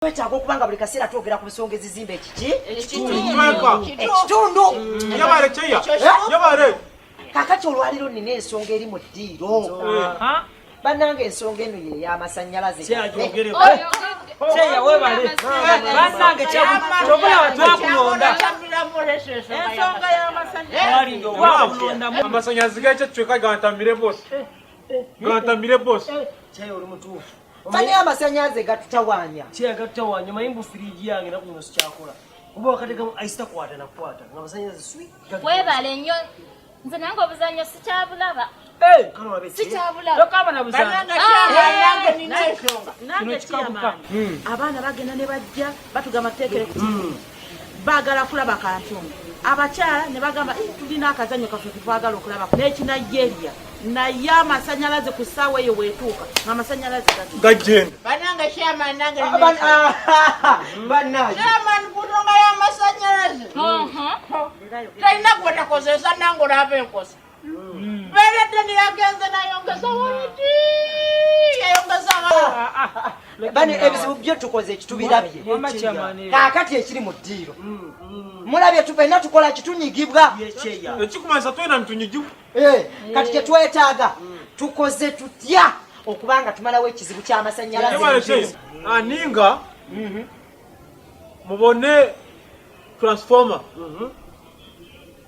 twetaaga okuba nga buli kaseera twogera ku nsonga ezizimba ekiki ekitundu kakati olwaliro nina ensonga eri mu ddiiro bananga ensonga eno ye yamasanyalaze amasanyalaze gakyo kyeka gantamire bos gantamire bos Mani amasanyaze gatutawanya. Kye gatutawanya manyi mbu firiji yange na kuno sikyakola. Kuba wakati gamu aisita kwata na kwata. Nga amasanyaze sweet. Webale nnyo. Nze nange obuzannyo sikyabulaba. Eh, hmm. abaana bagenda ne bajja batugamba teekere hmm. bagala kulaba kantundu abakyala ne bagamba eh, tulina akazanyo kaffe ketwagala okulaba n'ekinigeria naye amasanyalaze ku ssaawa eyo wetuuka ngaamasanyalaze gagenda banange chairman nange chairman kutonga y'amasanyalaze talina gwetakozesa nange olaba enkosa Beredde ne yagenze nayongeza wayiti yayongeza bano ebizibu byo tukoze ekitubirabye kaakati ekiri mu ddiiro mulabye tufena tukola kitunyigibwa ekikumanyisa twena nitunyigibwa kati kyetwetaaga tukoze tutya okuba nga tumalawo ekizibu ky'amasannyalaze ani nga mhm. mubone transformer mhm.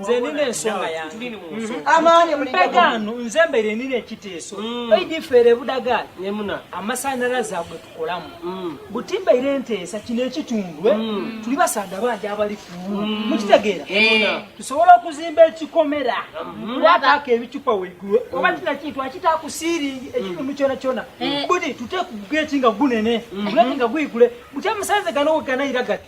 nze nina ensonga yange mm-hmm. mpagaano nze mbere nina ekiteeso mm. eidifaire ebudagali nemuna amasanyalaze agwe tukolamu mm. butimbaire enteesa kino ekitundu eh? mm. tuli basaada bangi abali ku mukitegeera eh. tusobola okuzimba ekikomera wataako mm-hmm. ebicupa weigulu oba kina kintu akitakusiiringi ekitundu kyona kyona eh. buti tuteku geti nga gunene guleti mm-hmm. nga guigule buti amasanze gano weganayira gati